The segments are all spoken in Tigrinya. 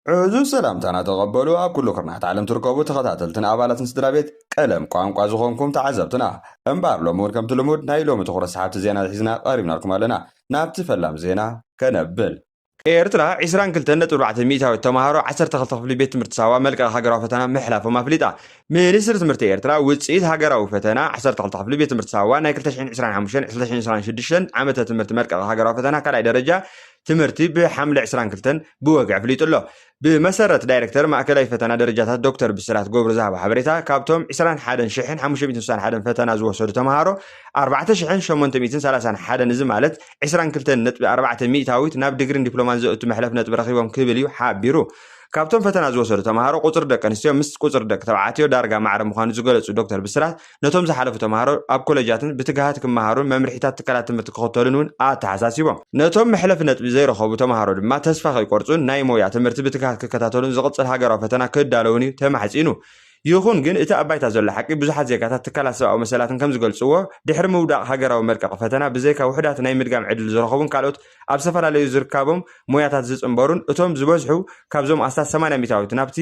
ዕዙዝ ሰላምታና ተቐበሉ ኣብ ኩሉ ኩርናዓት ዓለም ትርከቡ ተኸታተልትን ኣባላትን ስድራቤት ቀለም ቋንቋ ዝኾንኩም ተዓዘብትና። እምበኣር ሎሚ ውን ከምቲ ልሙድ ናይ ሎሚ ትኹረት ሰሓብቲ ዜና ሒዝና ቀሪብናልኩም ኣለና። ናብቲ ፈላም ዜና ከነብል። ኤርትራ ዕስራን ክልተን ነጥቢ ኣርባዕተ ሚእታዊት ተማሃሮ ዓሰርተ ክልተ ክፍሊ ቤት ትምህርቲ ሳዋ መልቀቂ ሃገራዊ ፈተና ምሕላፎም ኣፍሊጣ። ሚኒስትሪ ትምህርቲ ኤርትራ ውጽኢት ሃገራዊ ፈተና ዓሰርተ ክልተ ክፍሊ ቤት ትምህርቲ ሳዋ ናይ ክልተ ሽሕን ዕስራን ሓሙሽተን ክልተ ሽሕን ዕስራን ሽዱሽተን ዓመተ ትምህርቲ መልቀቂ ሃገራዊ ፈተና ካልኣይ ደረጃ ትምህርቲ ብሓምለ ዕስራን ክልተን ብወግዒ ኣፍሊጡ ኣሎ። ብመሰረት ዳይረክተር ማእከላይ ፈተና ደረጃታት ዶክተር ብስራት ገብሩ ዝሃቦ ሓበሬታ ካብቶም ዕስራን ሓደን ሽሕን ሓሙሽተ ሚእትን ስሳን ሓደን ፈተና ዝወሰዱ ተምሃሮ ኣርባዕተ ሽሕን ሸሞንተ ሚእትን ሰላሳን ሓደን እዚ ማለት ዕስራን ክልተን ነጥቢ ኣርባዕተ ሚእታዊት ናብ ድግሪን ዲፕሎማን ዘእቱ መሕለፍ ነጥቢ ረኺቦም ክብል እዩ ሓቢሩ። ካብቶም ፈተና ዝወሰዱ ተምሃሮ ቁፅሪ ደቂ ኣንስትዮ ምስ ቁፅሪ ደቂ ተባዕትዮ ዳርጋ ማዕረ ምዃኑ ዝገለፁ ዶክተር ብስራት ነቶም ዝሓለፉ ተምሃሮ ኣብ ኮለጃትን ብትግሃት ክመሃሩን መምርሒታት ትካላት ትምህርቲ ክኽተሉን እውን ኣተሓሳሲቦም። ነቶም መሕለፊ ነጥቢ ዘይረኸቡ ተምሃሮ ድማ ተስፋ ከይቆርፁን ናይ ሞያ ትምህርቲ ብትግሃት ክከታተሉን ዝቕፅል ሃገራዊ ፈተና ክዳለዉን እዩ ተማሕፂኑ። ይኹን ግን እቲ ኣብ ባይታ ዘሎ ሓቂ ብዙሓት ዜጋታት ትካላት ሰብኣዊ መሰላትን ከምዝገልፅዎ ድሕሪ ምውዳቕ ሃገራዊ መልቀቒ ፈተና ብዘይካ ውሑዳት ናይ ምድጋም ዕድል ዝረኸቡን ካልኦት ኣብ ዝተፈላለዩ ዝርካቦም ሞያታት ዝፅንበሩን እቶም ዝበዝሑ ካብዞም ኣስታት ሰማንያ ሚታዊት ናብቲ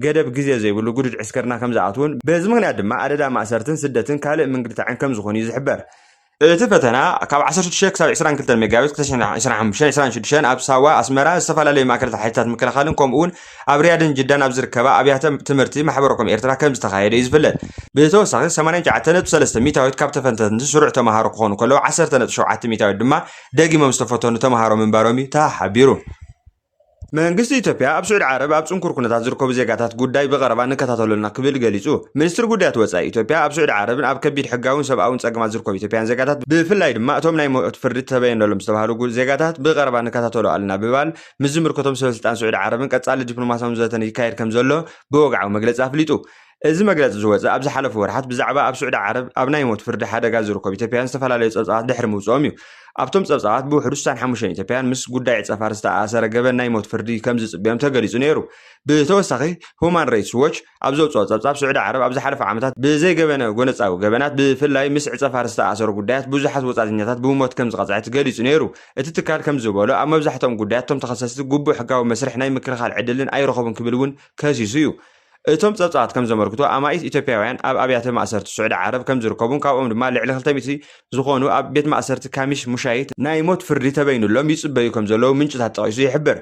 ገደብ ግዜ ዘይብሉ ግዱድ ዕስክርና ከም ዝኣትዉን በዚ ምኽንያት ድማ ኣደዳ ማእሰርትን ስደትን ካልእ ምንግልታዕን ከም ዝኾኑ'ዩ ዝሕበር። እቲ ፈተና ካብ ዓሰርተ ሽዱሽተ ክሳብ ዕስራን ክልተን መጋቢት ክልተ ሽሕን ዕስራን ሓሙሽተን ዕስራን ሽዱሽተን ኣብ ሳዋ፣ ኣስመራ፣ ዝተፈላለዩ ማእከላት ሓይልታት ምክልኻልን ከምኡ'ውን ኣብ ሪያድን ጅዳን ኣብ ዝርከባ ኣብያተ ትምህርቲ ማሕበረኮም ኤርትራ ከም ዝተኻየደ'ዩ ዝፍለጥ። ብተወሳኺ ሰማንያን ትሽዓተ ነጥቢ ሰለስተ ሚታዊት ካብ ተፈተንቲ ስሩዕ ተመሃሮ ክኾኑ ከለዉ ዓሰርተ ነጥቢ ሸውዓተ ሚታዊት ድማ ደጊሞም ዝተፈተኑ ተመሃሮ ምንባሮም'ዩ ተሓቢሩ። መንግስቲ ኢትዮጵያ ኣብ ስዑዲ ዓረብ ኣብ ጽንኩር ኩነታት ዝርከቡ ዜጋታት ጉዳይ ብቐረባ ንከታተሎ ኣሎና ክብል ገሊጹ። ሚኒስትሪ ጉዳያት ወጻኢ ኢትዮጵያ ኣብ ስዑዲ ዓረብን ኣብ ከቢድ ሕጋውን ሰብኣውን ጸገማት ዝርከቡ ኢትዮጵያውያን ዜጋታት ብፍላይ ድማ እቶም ናይ ሞት ፍርዲ ተበየነሎም ዝተባህሉ ዜጋታት ብቐረባ ንከታተሎ ኣልና ብባል ምስ ዝምልከቶም ሰበስልጣን ስዑዲ ዓረብን ቀጻሊ ዲፕሎማስያውን ዘተን ይካየድ ከምዘሎ ብወግዓዊ መግለጺ ኣፍሊጡ። እዚ መግለፂ ዝወፀ ኣብ ዝሓለፉ ወርሓት ብዛዕባ ኣብ ስዑዲ ዓረብ ኣብ ናይ ሞት ፍርዲ ሓደጋ ዝርከቡ ኢትዮጵያውያን ዝተፈላለዩ ፀብፃባት ድሕሪ ምውፅኦም እዩ። ኣብቶም ፀብፃባት ብውሕዱ ስሳን ሓሙሽተን ኢትዮጵያውያን ምስ ጉዳይ ፀፋር ዝተኣኣሰረ ገበን ናይ ሞት ፍርዲ ከምዝፅበዮም ተገሊፁ ነይሩ። ብተወሳኺ ሁማን ረይትስ ዎች ኣብ ዘውፅኦ ፀብፃብ ስዑዲ ዓረብ ኣብ ዝሓለፉ ዓመታት ብዘይገበነ ጎነፃዊ ገበናት ብፍላይ ምስ ዕፀፋር ዝተኣኣሰሩ ጉዳያት ብዙሓት ወፃእተኛታት ብሞት ከምዝቐፅዐት ገሊፁ ነይሩ። እቲ ትካል ከምዝበሎ ኣብ መብዛሕትኦም ጉዳያት እቶም ተኸሰስቲ ግቡእ ሕጋዊ መስርሕ ናይ ምክልኻል ዕድልን ኣይረኸቡን ክብል እውን ከሲሱ እዩ። እቶም ጸብጻባት ከም ዘመልክቱ፣ ኣማኢት ኢትዮጵያውያን ኣብ ኣብያተ ማእሰርቲ ስዑዲ ዓረብ ከም ዝርከቡን ካብኦም ድማ ልዕሊ ክልተ ሚእቲ ዝኾኑ ኣብ ቤት ማእሰርቲ ካሚሽ ሙሻይት ናይ ሞት ፍርዲ ተበይኑሎም ይጽበዩ ከም ዘለዉ ምንጭታት ጠቒሱ ይሕብር።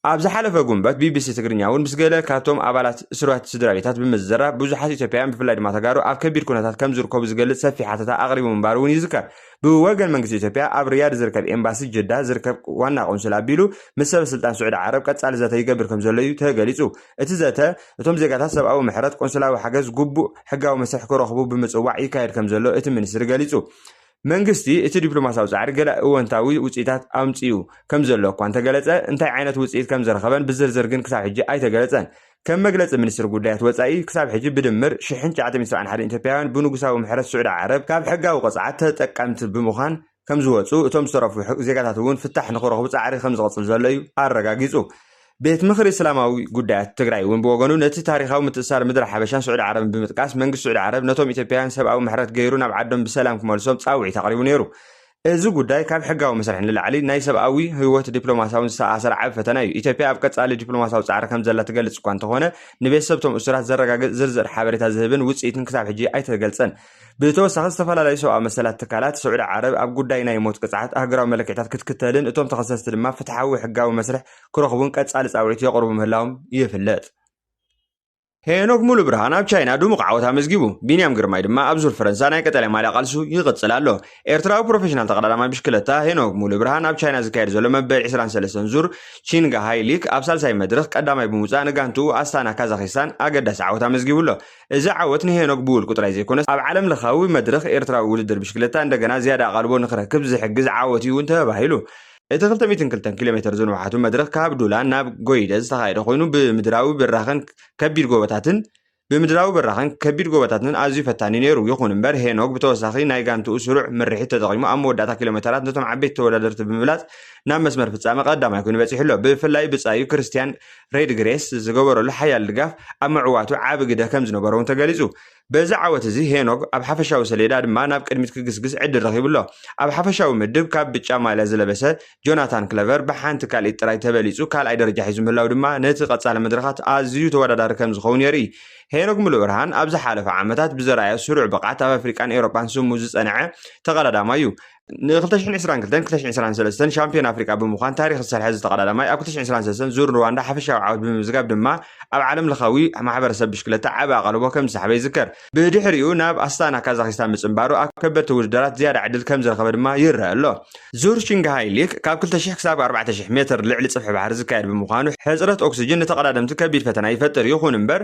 ኣብ ዝሓለፈ ጉንበት ቢቢሲ ትግርኛ'ውን ምስ ገለ ካብቶም ኣባላት እስርባት ስድራቤታት ብምዝራብ ብዙሓት ኢትዮጵያውያን ብፍላይ ድማ ተጋሩ ኣብ ከቢድ ኩነታት ከም ዝርከቡ ዝገልጽ ሰፊሕ ሓተታ ኣቕሪቡ ምንባሩ'ውን ይዝከር። ብወገን መንግስቲ ኢትዮጵያ ኣብ ሪያድ ዝርከብ ኤምባሲ ጅዳ ዝርከብ ዋና ቆንስል ኣቢሉ ምስ ሰበ ስልጣን ስዑዲ ዓረብ ቀጻሊ ዘተ ይገብር ከምዘሎ እዩ ተገሊጹ። እቲ ዘተ እቶም ዜጋታት ሰብኣዊ ምሕረት፣ ቆንስላዊ ሓገዝ፣ ግቡእ ሕጋዊ መስርሕ ክረኽቡ ብምጽዋዕ ይካየድ ከምዘሎ እቲ ሚኒስትሪ ገሊጹ። መንግስቲ እቲ ዲፕሎማስያዊ ጻዕሪ ገለ እወንታዊ ውጽኢታት ኣምጺኡ ከምዘሎ እኳ እንተገለጸ እንታይ ዓይነት ውጽኢት ከምዝረኸበን ብዝርዝር ግን ክሳብ ሕጂ ኣይተገለጸን። ከም መግለጺ ሚኒስትሪ ጉዳያት ወጻኢ፣ ክሳብ ሕጂ ብድምር ሽሕን ትሽዓተ ሚእቲ ሰብዓን ሓደን ኢትዮጵያውያን ብንጉሳዊ ምሕረት ስዑዲ ዓረብ ካብ ሕጋዊ ቅጽዓት ተጠቀምቲ ብምዃን ከም ዝወጹ፣ እቶም ዝተረፉ ዜጋታት እውን ፍታሕ ንኽረኽቡ ጻዕሪ ከም ዝቕጽል ዘሎ እዩ ኣረጋጊጹ። ቤት ምኽሪ እስላማዊ ጉዳያት ትግራይ እውን ብወገኑ ነቲ ታሪኻዊ ምትእስሳር ምድረ ሓበሻን ስዑዲ ዓረብን ብምጥቃስ መንግስቲ ስዑዲ ዓረብ ነቶም ኢትዮጵያውያን ሰብኣዊ ምሕረት ገይሩ ናብ ዓዶም ብሰላም ክመልሶም ጻውዒት ኣቕሪቡ ነይሩ። እዚ ጉዳይ ካብ ሕጋዊ መስርሕ ንላዕሊ ናይ ሰብኣዊ፣ ህይወት፣ ዲፕሎማስያውን ዝተኣሳሰረ ዓቢ ፈተና እዩ። ኢትዮጵያ ኣብ ቀጻሊ ዲፕሎማስያዊ ጻዕሪ ከምዘላ ትገልጽ እኳ እንተኾነ፣ ንቤተሰብ'ቶም እሱራት ዘረጋግጽ ዝርዝር ሓበሬታ ዝህብን ውጽኢትን ክሳብ ሕጂ ኣይተገልጸን። ብተወሳኺ ዝተፈላለዩ ሰብኣዊ መሰላት ትካላት ስዑዲ ዓረብ ኣብ ጉዳይ ናይ ሞት ቅጽዓት ኣህጉራዊ መለክዒታት ክትክተልን እቶም ተኸሰስቲ ድማ ፍትሓዊ ሕጋዊ መስርሕ ክረኽቡን ቀጻሊ ጻውዒት የቕርቡ ምህላዎም ይፍለጥ። ሄኖክ ሙሉብርሃን ኣብ ቻይና ድሙቕ ዓወት ኣመዝጊቡ፣ ቢንያም ግርማይ ድማ ኣብ ዙር ፈረንሳ ናይ ቀጠልያ ማልያ ቃልሱ ይቕጽል ኣሎ። ኤርትራዊ ፕሮፌሽናል ተቐዳዳማይ ብሽክለታ ሄኖክ ሙሉብርሃን ኣብ ቻይና ዝካየድ ዘሎ መበል ዕስራን ሰለስተን ዙር ቺንግሃይ ሊክ ኣብ ሳልሳይ መድርኽ ቀዳማይ ብምውጻእ ንጋንትኡ ኣስታና ካዛኺስታን ኣገዳሲ ዓወት ኣመዝጊቡ ኣሎ። እዚ ዓወት ንሄኖክ ብውልቁ ጥራይ ዘይኮነስ ኣብ ዓለምለኻዊ መድርኽ ኤርትራዊ ውድድር ብሽክለታ እንደገና ዝያዳ ኣቓልቦ ንኽረክብ ዝሕግዝ ዓወት'ዩ እውን ተባሂሉ። እቲ ክልተ ሚእትን ክልተን ኪሎ ሜተር ዝንውሓቱ መድረኽ ካብ ዱላን ናብ ጎይደ ዝተኻየደ ኮይኑ ብምድራዊ ብራኸን ከቢድ ጎቦታትን ብምድራዊ ብራኸን ከቢድ ጎቦታትን ኣዝዩ ፈታኒ ነይሩ። ይኹን እምበር ሄኖግ ብተወሳኺ ናይ ጋንትኡ ስሩዕ ምርሒት ተጠቒሙ ኣብ መወዳእታ ኪሎ ሜተራት ነቶም ዓበይቲ ተወዳደርቲ ብምብላፅ ናብ መስመር ፍፃመ ቀዳማይ ኮይኑ በፂሑ ኣሎ። ብፍላይ ብፃዩ ክርስቲያን ሬድግሬስ ዝገበረሉ ሓያል ድጋፍ ኣብ ምዕዋቱ ዓቢ ግደ ከም ዝነበሮ እውን ተገሊፁ። በዚ ዓወት እዚ ሄኖግ ኣብ ሓፈሻዊ ሰሌዳ ድማ ናብ ቅድሚት ክግስግስ ዕድል ረኺቡ ኣሎ። ኣብ ሓፈሻዊ ምድብ ካብ ብጫ ማልያ ዝለበሰ ጆናታን ክለቨር ብሓንቲ ካልኢት ጥራይ ተበሊጹ ካልኣይ ደረጃ ሒዙ ምህላው ድማ ነቲ ቀጻሊ መድረኻት ኣዝዩ ተወዳዳሪ ከም ዝኸውን የርኢ። ሄኖግ ምሉእብርሃን ኣብ ዝሓለፉ ዓመታት ብዘርኣዮ ስሩዕ ብቕዓት ኣብ ኣፍሪቃን ኤውሮጳን ስሙ ዝጸንዐ ተቐዳዳማይ እዩ። ን2022ን 2023ን ሻምፒዮን ኣፍሪቃ ብምዃን ታሪኽ ዝሰርሐ እዚ ተቐዳዳማይ ኣብ 2023 ዙር ሩዋንዳ ሓፈሻዊ ዓወት ብምምዝጋብ ድማ ኣብ ዓለም ለኻዊ ማሕበረሰብ ብሽክለታ ዓቢ ኣቓልቦ ከም ዝሰሓበ ይዝከር። ብድሕሪኡ ናብ ኣስታና ካዛኺስታን ምጽንባሩ ኣብ ከበድቲ ውድድራት ዝያዳ ዕድል ከም ዝረኸበ ድማ ይረአ ኣሎ። ዙር ሽንግሃይ ሊክ ካብ 2,000 ክሳብ 4,000 ሜትር ልዕሊ ጽፍሒ ባሕሪ ዝካየድ ብምዃኑ ሕጽረት ኦክስጅን ንተቐዳደምቲ ከቢድ ፈተና ይፈጥር። ይኹን እምበር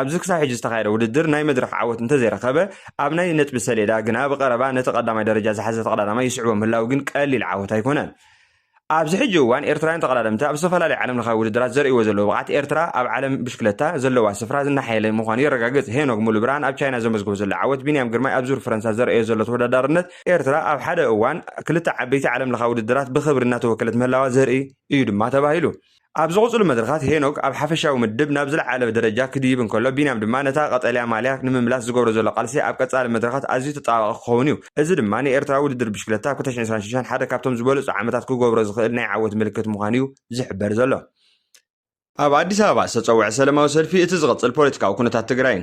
ኣብዚ ክሳብ ሕጂ ዝተኻየደ ውድድር ናይ መድረኽ ዓወት እንተዘይረኸበ፣ ኣብ ናይ ነጥቢ ሰሌዳ ግና ብቐረባ ነቲ ቀዳማይ ደረጃ ዝሓዘ ተቐዳዳማይ ይስዕቦ ምህላዉ ግን ቀሊል ዓወት ኣይኮነን። ኣብዚ ሕጂ እዋን ኤርትራውያን ተቐዳደምቲ ኣብ ዝተፈላለዩ ዓለምለኻዊ ውድድራት ዘርእይዎ ዘለዉ ብቕዓት ኤርትራ ኣብ ዓለም ብሽክለታ ዘለዋ ስፍራ እናሓየለ ምዃኑ የረጋግጽ። ሄኖክ ሙሉብርሃን ኣብ ቻይና ዘመዝግቦ ዘሎ ዓወት፣ ቢንያም ግርማይ ኣብ ዙር ፈረንሳ ዘርኣዮ ዘሎ ተወዳዳርነት፣ ኤርትራ ኣብ ሓደ እዋን ክልተ ዓበይቲ ዓለምለኻዊ ውድድራት ብኽብሪ እናተወከለት ምህላዋ ዘርኢ እዩ ድማ ተባሂሉ። ኣብ ዝቕጽሉ መድረኻት ሄኖግ ኣብ ሓፈሻዊ ምድብ ናብ ዝለዓለ ደረጃ ክድይብ እንከሎ ቢንያም ድማ ነታ ቀጠልያ ማልያ ንምምላስ ዝገብሮ ዘሎ ቃልሲ ኣብ ቀጻሊ መድረኻት ኣዝዩ ተጠባባቒ ክኸውን እዩ። እዚ ድማ ንኤርትራ ውድድር ብሽክለታ ኣብ ክልተ ሽሕን ዕስራን ሽዱሽተን ሓደ ካብቶም ዝበለጹ ዓመታት ክገብሮ ዝኽእል ናይ ዓወት ምልክት ምዃኑ እዩ ዝሕበር ዘሎ። ኣብ ኣዲስ ኣበባ ዝተጸውዐ ሰለማዊ ሰልፊ እቲ ዝቕጽል ፖለቲካዊ ኩነታት ትግራይን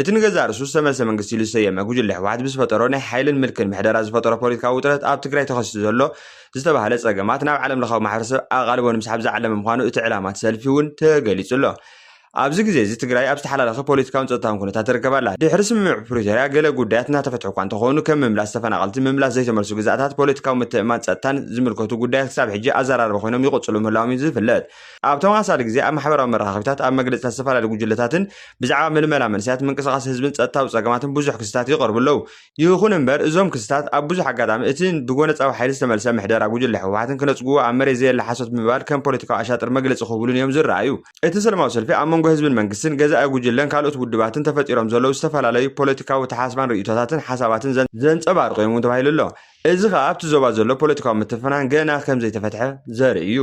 እቲ ንገዛእ ርእሱ ዝተመልሰ መንግስቲ ኢሉ ዝሰየመ ጉጅለ ህወሓት ብዝፈጠሮ ናይ ሓይልን ምልክን ምሕደራ ዝፈጠሮ ፖለቲካዊ ውጥረት ኣብ ትግራይ ተኸሲቱ ዘሎ ዝተባህለ ፀገማት ናብ ዓለምለኻዊ ማሕበረሰብ ኣቓልቦ ንምስሓብ ዝዓለመ ምዃኑ እቲ ዕላማ እቲ ሰልፊ እውን ተገሊፁ ኣሎ። ኣብዚ ግዜ እዚ ትግራይ ኣብ ዝተሓላለኸ ፖለቲካውን ፀጥታውን ኩነታት ትርከብ ኣላ። ድሕሪ ስምምዕ ፕሪቶርያ ገለ ጉዳያት እናተፈትሑ እኳ እንተኾኑ ከም ምምላስ ተፈናቐልቲ፣ ምምላስ ዘይተመልሱ ግዝኣታት፣ ፖለቲካዊ ምትእምማን፣ ፀጥታን ዝምልከቱ ጉዳያት ክሳብ ሕጂ ኣዘራርባ ኮይኖም ይቕፅሉ ምህላዎም እዩ ዝፍለጥ። ኣብ ተመሳሳሊ ግዜ ኣብ ማሕበራዊ መራኸቢታት፣ ኣብ መግለጺታት ዝተፈላለዩ ጉጅለታትን ብዛዕባ ምልመላ መንእሰያት፣ ምንቅስቓስ ህዝብን ጸጥታዊ ጸገማትን ብዙሕ ክስታት ይቐርቡ ኣለዉ። ይኹን እምበር እዞም ክስታት ኣብ ብዙሕ ኣጋጣሚ እቲ ብጎነጻዊ ሓይሊ ዝተመልሰ ምሕደራ ጉጅለ ህወሓትን ክነጽግዎ ኣብ መሬት ዘየለ ሓሶት ብምባል ከም ፖለቲካዊ ኣሻጥር መግለጺ ክህብሉን እዮም ዝረኣዩ። እቲ ሰለማዊ ሰልፊ ኣብ መንጎ ህዝብን መንግስትን፣ ገዛኢ ጉጅለን ካልኦት ውድባትን ተፈጢሮም ዘለዉ ዝተፈላለዩ ፖለቲካዊ ኣተሓሳስባን ርእይቶታትን ሓሳባትን ዘንጸባርቑ እዮም እውን ተባሂሉ ኣሎ። እዚ ከኣ ኣብቲ ዞባ ዘሎ ፖለቲካዊ ምትፍናን ገና ከምዘይተፈትሐ ዘርኢ እዩ።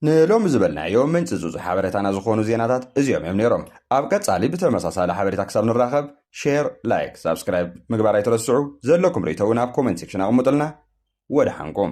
ንሎሚ ዝበልናዮ ምንጪ ዙዙ ሓበሬታና ዝኾኑ ዜናታት እዚኦም እዮም ነይሮም። ኣብ ቀጻሊ ብተመሳሳሊ ሓበሬታ ክሳብ ንራኸብ ሼር፣ ላይክ፣ ሳብስክራይብ ምግባር ኣይትረስዑ። ዘለኩም ርእይቶ እውን ኣብ ኮመንት ሴክሽን ኣቕምጡልና። ወደሓንኩም።